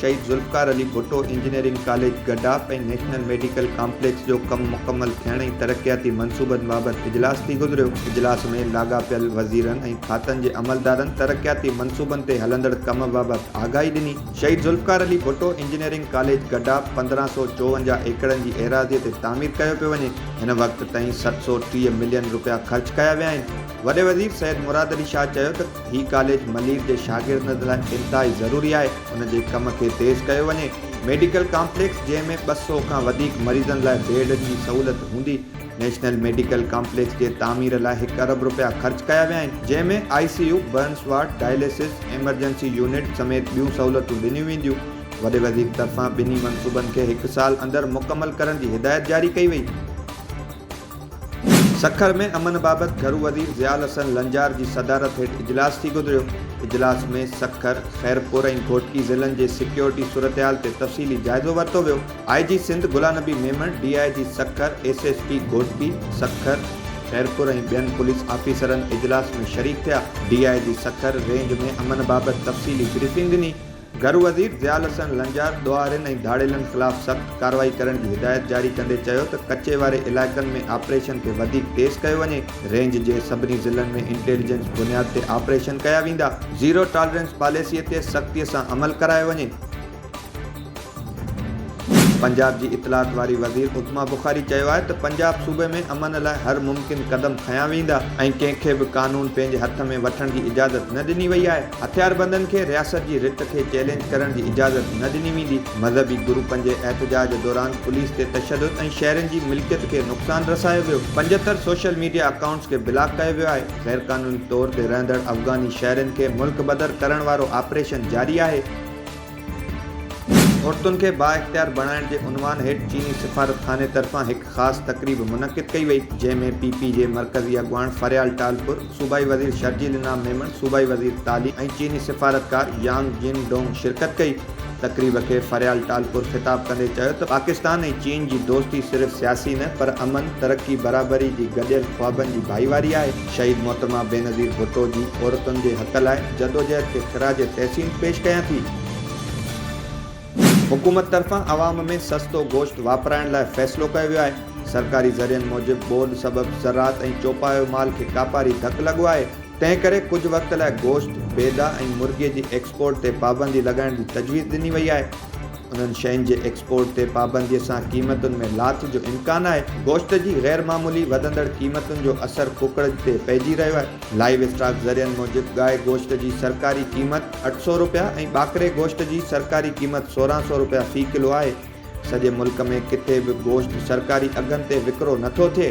شهيد Zulfikar Ali Bhutto engineering college گڊا ۽ national medical complex جو ڪم مڪمل ٿيڻ ۽ ترقياتي منصوبن بابت اجلاس ٿي گذريو، اجلاس ۾ لاڳاپيل وزيرن ۽ کاتن جي عملدارن ترقياتي منصوبن تي هلندڙ ڪم بابت آگاهي ڏني، شهيد ذوالفقار علي ڀٽو انجنيئرنگ ڪاليج گڊا پندرهن سؤ چوونجاهه ايڪڙن جي ايراضي تي تعمير ڪيو پيو وڃي، هن وقت تائين ست سؤ ٽيهه ملين رپيا خرچ ڪيا ويا آهن، وڏي وزير سيد مراد علي شاهه چيو ته. هي ڪاليج ملير جي شاگردن لاء انتهائي ضروري آهي، ان جي ڪم کي تيز ڪيو وڃي، ميڊيڪل ڪامپليڪس جنهن ۾ ٻه سؤ کان وڌيڪ مريضن لاء بيڊ جي سهولت هوندي، نيشنل ميڊيڪل ڪامپليڪس جي تعمير لاء هڪ ارب رپيا خرچ ڪيا ويا آهن، جنهن ۾ I C U, burns ward, dialysis, emergency unit سميت ٻيون سهولتون ڏنيون وينديون، وڏي وزير طرفان ٻنهي منصوبن کي هڪ سال اندر مڪمل ڪرڻ جي هدايت جاري ڪئي وئي. سکر ۾ امن بابت گهرو وزير ضياء الحسن لنجار جي صدارت هيٺ اجلاس ٿي گذريو، اجلاس ۾ سکر، خيرپور ۽ گهوٽڪي ضلعن جي سيڪيورٽي صورتحال تي تفصيلي جائزو ورتو ويو، I G Sindh Ghulam Nabi Memon, D I G Sukkur, S S P Ghotki, Sukkur, Khairpur ۽ ٻين پوليس آفيسرن اجلاس ۾ شريڪ ٿيا، D I G Sukkur range ۾ امن بابت تفصيلي بريفنگ ڏني، گهرو وزير ضياء الحسن لنجار ڏوهارين ۽ ڌاڙيلن خلاف سخت ڪارروائي ڪرڻ جي هدايت جاري ڪندي چيو ته ڪچي واري علائقن ۾ آپريشن کي وڌيڪ تيز ڪيو وڃي، رينج جي سڀني ضلعن ۾ انٽيليجنس بنياد تي آپريشن ڪيا ويندا، زيرو ٽالرنس پاليسي تي سختي سان عمل ڪرايو وڃي. پنجاب جي اطلاعات واري وزير عظميٰ بخاري چيو آهي ته پنجاب صوبي ۾ امن لاء هر ممڪن قدم کنيا ويندا ۽ ڪنهن کي به قانون پنهنجي هٿ ۾ وٺڻ جي اجازت نه ڏني وئي آهي. هٿياربندن کي رياست جي رٿ کي چئلينج ڪرڻ جي اجازت نه ڏني ويندي، مذهبي گرو پنجي احتجاج دوران پوليس تي تشدد ۽ شهرين جي ملڪيت کي نقصان رسايو ويو، پنجهتر سوشل ميڊيا اڪائونٽس کي بلاڪ ڪيو ويو آهي، غيرقانوني طور تي رهندڙ افغاني شهرين کي ملڪ بدر ڪرڻ وارو آپريشن جاري آهي. عورتن کي بااختيار بڻائڻ جي عنوان هيٺ چيني سفارت خاني طرفان هڪ خاص تقريب منعقد ڪئي وئي جنهن ۾ پي پي جي مرڪزي اڳواڻ فريال ٽالپر، صوبائي وزير شرجيل انعام ميمڻ، صوبائي وزير تعليم ۽ چيني سفارتڪار يانگ جين ڊونگ شرڪت ڪئي. تقريب کي فريال ٽالپر خطاب ڪندي چيو ته پاڪستان ۽ چين جي دوستي صرف سياسي نه پر امن، ترقي، برابري جي گڏيل خوابن جي ڀائيواري آهي. شهيد محترمه بينظير ڀٽو جي عورتن جي حق لاء جدوجهد کي خراج تحسين پيش ڪيان ٿي. حڪومت طرفان عوام ۾ سستو گوشت واپرائڻ لاء فيصلو ڪيو ويو آهي، سرڪاري ذريعن موجب ٻوڏ سبب زراعت ۽ چوپايو مال کي ڪاپاري ڌڪ لڳو آهي، تنهن ڪري ڪجهه وقت لاء گوشت، بيضا ۽ مرغي جي ايڪسپورٽ تي پابندي لڳائڻ جي تجويز ڏني وئي آهي. انهن شين جي ايڪسپورٽ تي پابندي سان قيمتن ۾ لاٿ جو امڪان آهي، گوشت جي غير معمولي وڌندڙ قيمتن جو اثر ڪوڪڙج تي پئجي رهيو آهي، لائيو اسٽاڪ ذريعن موجب گائي گوشت جي سرڪاري قيمت اٺ سؤ رپيا ۽ ٻاڪري گوشت جي سرڪاري قيمت سورهن سؤ رپيا في ڪلو آهي، سڄي ملڪ ۾ ڪٿي به گوشت سرڪاري اگهن تي وڪرو نٿو ٿئي.